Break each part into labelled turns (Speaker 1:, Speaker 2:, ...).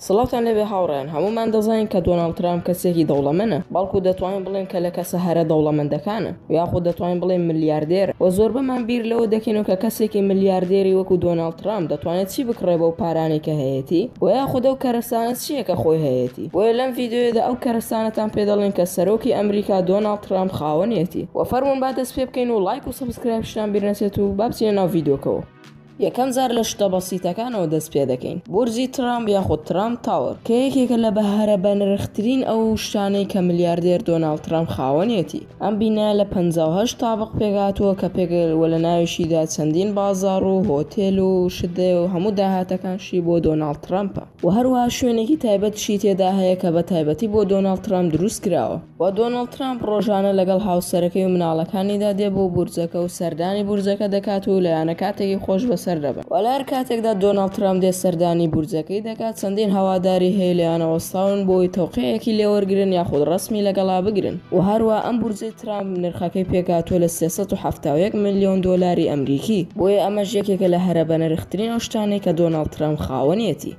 Speaker 1: سڵاتان لەوێ هاوڕێن هەمومان دەزانین کە دۆناڵ ترام کەسێکی دەوڵەمەنە بەڵکو دەتوانین بڵێن کە لە کەسە هەرە دەوڵەمەندەکانە یاخود دەتوانین بڵێن ملیاردێر و زۆر بەمان بیر لەوە دەکەین و کە کەسێکی ملیاردێری وەکو دۆناڵ ترام دەتوانێت چی بکڕێ بەو پارانێکە هەیەی و یاخودە و کەرەسانە چییە کە خۆی هەیەی بۆیە لەم ڤیدیۆیەدا ئەو کەرەستانەتان پێ دەڵێین کە سەرۆکی ئەمریکا دۆناڵد ترامپ خاوەنیەتی وە فەرموون با دەست پێ بکەین و ڵایک و سەبسکرایبشتان بیر نەچێت و با بچینە ناو ڤیدیۆکەوە. یەکەم جار لە شتە بەسیتەکانەوە دەست پێ دەکەین بورجی ترامپ یاخود ترامپ تاوەر کە یەکێکە لە بەهرە بەنرخترین ئەو شتانەی کە ملیاردێر دۆناڵد ترامپ خاوەنیەتی ئەم بینایە لە پەنجا و هەشت تابق پێک هاتووە کە پێک وە لە ناویشیدا چەندین بازاڕ و هۆتێل و شت دەێ و هەموو داهاتەکانشی بۆ دۆناڵد ترامپە. و هەروەها شوێنێکی تایبەتیشی تێدا هەیە کە بە تایبەتی بۆ دۆناڵد ترامپ دروستکراوە. و دۆناڵد ترامپ ڕۆژانە لەگەڵ هاوسەرەکەی و مناڵەکانیدا دێ بۆ بورجەکە و سەردانی بورجەکە دەکات و لایەنە کاتێکی خۆش بەسەر دەبەن. و لە هەر کاتێکدا دۆناڵد ترامپ دێت سەردانی بورجەکەی دەکات چەندین هەواداری هەیە لێیانە وەستاون بۆی تەوقیعێکی لێوەرگرن یاخود ڕەسمی لەگەڵا بگرن و هەروەها ئەم بورجەی ترامپ نرخەکەی پێکهاتووە لە سێ سەد و حەفتا و یەک ملیۆن دۆلاری ئەمریکی، بۆیە ئەمەش یەکێکە لە هەرە بەنرخترین ئەو شتانەی کە دۆناڵد ترامپ خاوەنیەتی.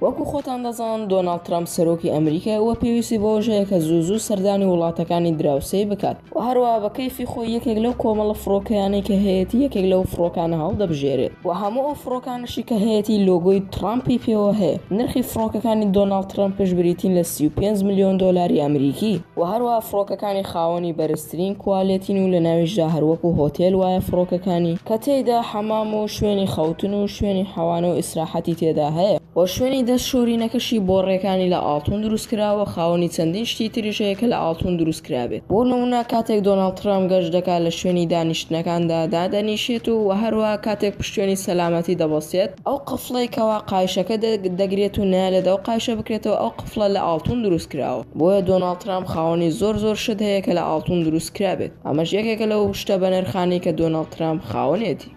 Speaker 1: وەکو خۆتان دەزانن دۆناڵد ترامپ سەرۆکی ئەمریکای و پێویستی بەوەش هەیە کە زوو زوو سەردانی وڵاتەکانی دراوسێی بکات و هەروەها بە کەیفی خۆی یەکێک لەو کۆمەڵە فڕۆکەیانەی کە هەیەتی یەکێک لەو فڕۆکانە هەڵدەبژێرێت و هەموو ئەو فڕۆکانەش شکایەتی لۆگۆی تڕامپی پێوە هەیە. نرخی فڕۆکەکانی دۆناڵد ترەمپش بریتین لە سی و پێنج ملیۆن دۆلاری ئەمریکی. وە هەروەها فڕۆکەکانی خاوەنی بەرزترین کوالێتین و لەناویشدا هەروەکو هۆتێل وایە فڕۆکەکانی کە تێیدا حەمام و شوێنی خەوتن و شوێنی حەوانە و ئیسراحەتی تێدا هەیە، وە شوێنی دەست شۆرینەکەشی بۆڕیەکانی لە ئاڵتون دروستکراوە، خاوەنی چەندین شتی تریش هەیە کە لە ئاڵتون دروست. کرابێت. بۆ نموونە کاتێک دۆناڵد ترەمپ گەشت دەکات لە شوێنی دانیشتنەکاندا دادەنیشێت و وە هەروەها کاتێک پشتێنی سەلامەتی دەبەستێت، ئەو قفڵەی کەوا قایشەکە دەگرێت و نایەلێت ئەو قایشە بکرێتەوە ئەو قفڵە لە ئاڵتون دروست کراوە بۆیە دۆناڵد ترەمپ خاوەنی زۆر زۆر شت هەیە کە لە ئاڵتون دروست کرابێت ئەمەش یەکێکە لەو شتە بەنرخانەی کە دۆناڵد ترەمپ خاوەنێتی.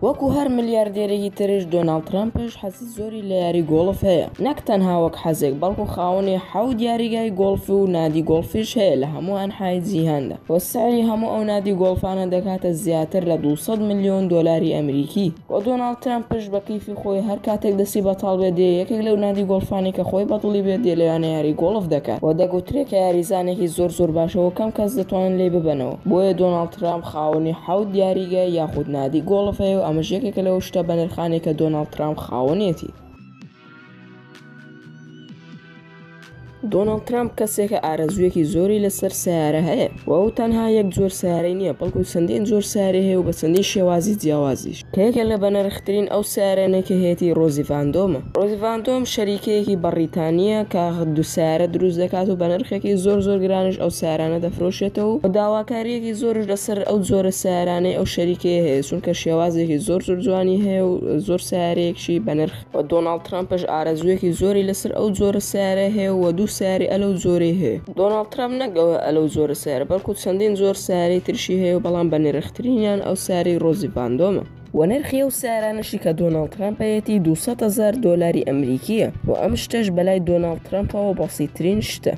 Speaker 1: وەکو هەر ملیاردێرێکی ترش دۆناڵد ترەمپش حەزی زۆری لە یاری گۆڵف هەیە نەک تەنها وەک حەزێک بەڵکو خاوەنی حەوت یاریگای گۆڵف و نادی گۆڵفیش هەیە لە هەموو ئەنحای جیهاندا و سعری هەموو ئەو نادی گۆڵفانە دەگاتە زیاتر لە دوو سەد ملیۆن دۆلاری ئەمریکی و دۆناڵد ترەمپش بە کەیفی خۆی هەر کاتێک دەستی بەتاڵ بێت دێ یەکێک لەو نادی گۆڵفانەی کە خۆی بە دڵی بێت دێ لەویانە یاری گۆڵف دەکات و دەگوترێ کە یاریزانێکی زۆر زۆر باشە و کەم کەس دەتوانن لێی ببەنەوە بۆیە دۆناڵد ترەمپ خاوەنی حەوت یاریگا یاخود نادی گۆڵف هەیە و ئەمەش یەکێکە لەو شتە بەنرخانەی کە دۆناڵد ترامپ خاوەنێتی. دۆناڵد ترامپ کەسێکە ئارەزوویەکی زۆری لەسەر سەیارە هەیە و ئەو تەنها یەک جۆر سەیارەی نییە، بەڵکو چەندین جۆر سەیارەی هەیە و بە چەندین شێوازی جیاوازیش. کە یەکێک لە بەنرخترین ئەو سەیارەنەی کە هەیەتی ڕۆزی ڤاندۆمە. ڕۆزی ڤاندۆم شەریکەیەکی بەڕیتانییە کە دوو سەیارە دروست دەکات و بەنرخێکی زۆر زۆر گرانیش ئەو سەیارانە دەفرۆشێتەوە و داواکارییەکی زۆرش لەسەر ئەو جۆرە سەیارانەی ئەو شەریکەیە هەیە چونکە شێوازێکی زۆر زۆر جوانی هەیە و زۆر سەیارەیەکی بەنرخ و دۆناڵد ترەمپش ئارەزوویەکی زۆری لەسەر ئەو جۆرە سەیارەی هەیە و دوو سەیارەی ئەلەو جۆرەی هەیە. دۆناڵد ترەمپ نەک ئەلەو جۆرە سەیارە بەڵکو چەندین جۆر سەیارەی تریشی هەیە و بەڵام بە نرخترینیان ئەو سەیارەی ڕۆزی ڤاندۆمە، و نرخی ئەو سەیارانەشی کە دۆناڵد ترەمپەیەتی دوو سەد هەزار دۆلاری ئەمریکییە و ئەم شتەش بەلای دۆناڵد ترەمپەوە بەسیتترین شتە.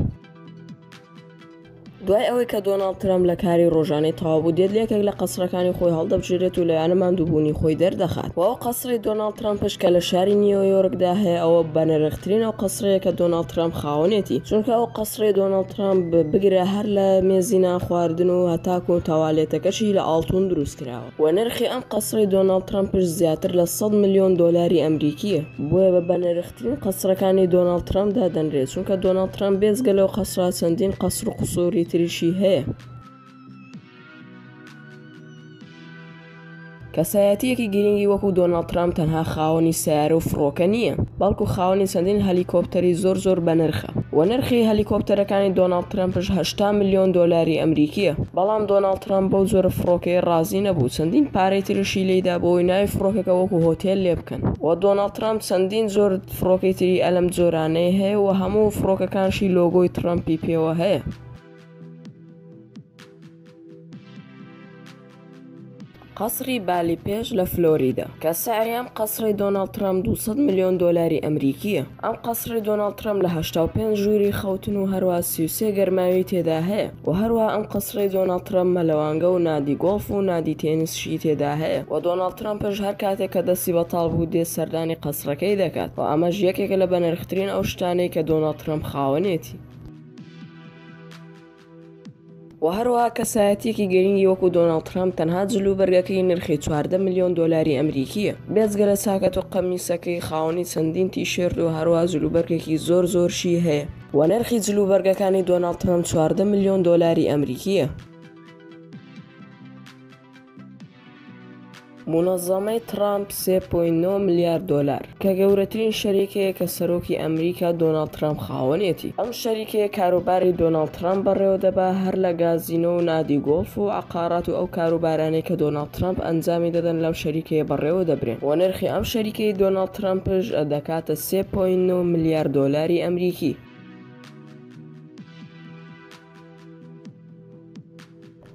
Speaker 1: دوای ئەوەی کە دۆناڵد ترەمپ لە کاری ڕۆژانەی تەواوبوو دێت لە یەکێک لە قەسرەکانی خۆی هەڵدەبژێرێت و لەوێانە ماندووبوونی خۆی دەردەخات و ئەو قەسری دۆناڵد ترەمپش کە لە شاری نیۆیۆرکدا هەیە ئەوە بەنرخترین ئەو قەسرەیە کە دۆناڵد ترەمپ خاوەنێتی چونکە ئەو قەسرەی دۆناڵد ترەمپ بگرە هەر لە مێزی نانخواردن و هەتاکوو تەوالێتەکەشی لە ئاڵتوون دروستکراوە و نرخی ئەم قەسرەی دۆناڵد ترەمپش زیاتر لە سەد ملیۆن دۆلاری ئەمریکییە بۆیە بە بەنرخترین ترین قەسرەکانی دۆناڵد ترەمپ دادەنرێت، چونکە دۆناڵد ترەمپ بێجگە لەو قەسرە چەندین قەسر و قوسوری تریشی هەیە. کەسایەتییەکی گرنگی وەکو دۆناڵد ترەمپ تەنها خاوەنی سەیارە و فڕۆکە نییە، بەڵکو خاوەنی چەندین هەلیکۆپتەری زۆر زۆر بەنرخە و نرخی هەلیکۆپتەرەکانی دۆناڵد ترەمپش هەشتا ملیۆن دۆلاری ئەمریکییە. بەڵام دۆناڵد ترەمپ بەو جۆرە فڕۆکەیە ڕازی نەبوو، چەندین پارەی ترشی لێیدا بۆ ئەوەی ناوی فڕۆکەکە وەکو هۆتێل لێبکەن. و دۆناڵد ترەمپ چەندین جۆر فڕۆکەی تری ئە لەم جۆرانەی هەیە و هەموو فڕۆکەکانشی لۆگۆی ترەمپی پێوە هەیە. قەسری بالی پێش لە فلۆریدا کە سعریان قەسری دۆناڵد ترەمپ 200 ملیۆن دۆلاری ئەمریکیە ئەم قەسری دۆناڵد ترەمپ لە 85 ژووری خەوتن و هەروە 33 گەرماوی تێدا هەیە. و هەروەها ئەم قەسرەی دۆناڵد ترەمپ مەلەوانگە و نادی گۆڵف و نادی تێنسشی تێدا هەیە و دۆناڵد ترەمپش هەر کاتێک کە دەستی بەتاڵ بوو دێت سەردانی قەسرەکەی دەکات و ئەمەش یەکێکە لە بەنرخترین ئەو شتانەی کە دۆناڵد ترەمپ خاوەنێتی. و هەروەها کەسایەتیەکی گرنگی وەکو دۆناڵد ترەمپ تەنها جل و بەرگەکەی نرخی چواردە ملیۆن دۆلاری ئەمریکیە بێجگە لە چاکەت و قەمیسەکەی خاوەنی چەندین تیشێرت و هەروەها جلوبەرگێکی زۆر زۆرشی هەیە. وە نرخی جلوبەرگەکانی دۆناڵد ترەمپ چواردە ملیۆن دۆلاری ئەمریکییە. مونەزەمەی ترەمپ سێ پۆینت نۆ ملیار دۆلار، کە گەورەترین شەریکەیە کە سەرۆکی ئەمریکا دۆناڵد ترەمپ خاوەنیەتی. ئەم شەریکەیە کاروباری دۆناڵد ترەمپ بەڕێوەدەبا هەر لە گازینۆ و نادی گۆڵف و عەقارات و ئەو کاروبارانەی کە دۆناڵد. ترەمپ ئەنجامی دەدەن لەو شەریکەیە بەڕێوە دەبرێن و نرخی ئەم شەریکەی دۆناڵد ترەمپش دەکاتە سێ پۆینت نۆ ملیار دۆلاری ئەمریکی.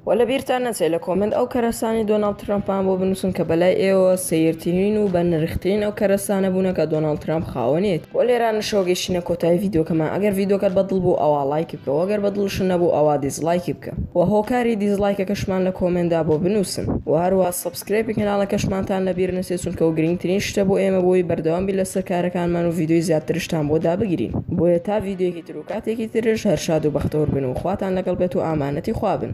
Speaker 1: وە لە بیرتان نەچێت لە کۆمێنت ئەو کەرەسانی دۆناڵد ترەمپان بۆ بنووسن کە بەلای ئێوە سەیرترین و بە نرخترین ئەو کەرەسانە بوونە کە دۆناڵد ترەمپ خاوەنێت وە لێرانەشەوە گەیشتینە کۆتایی ڤیدیۆکەمان ئەگەر ڤیدیۆکەت بەدڵ بوو ئەوا ڵایکی بکە وە گەر بەدڵشت نەبوو ئەوا دیسڵایکی بکە. وە هۆکاری دیزڵایکەکەشمان لە کۆمێندا بۆ بنوسن وە هەروە سەبسکرەیپی کەناڵەکەشمانتان لەبیر نەچێت چونکە ئەو گرینگترین شتە بۆ ئێمە بۆی بەردەوام بین لەسەر کارەکانمان و ڤیدۆی زیاترشتان بۆ دابگرین بۆیە تا ڤیدۆیەکی تر و کاتێکی ترش هەر شاد و بەختەور بن و خواتان لەگەڵ بێت و ئامانەتی خوا بن.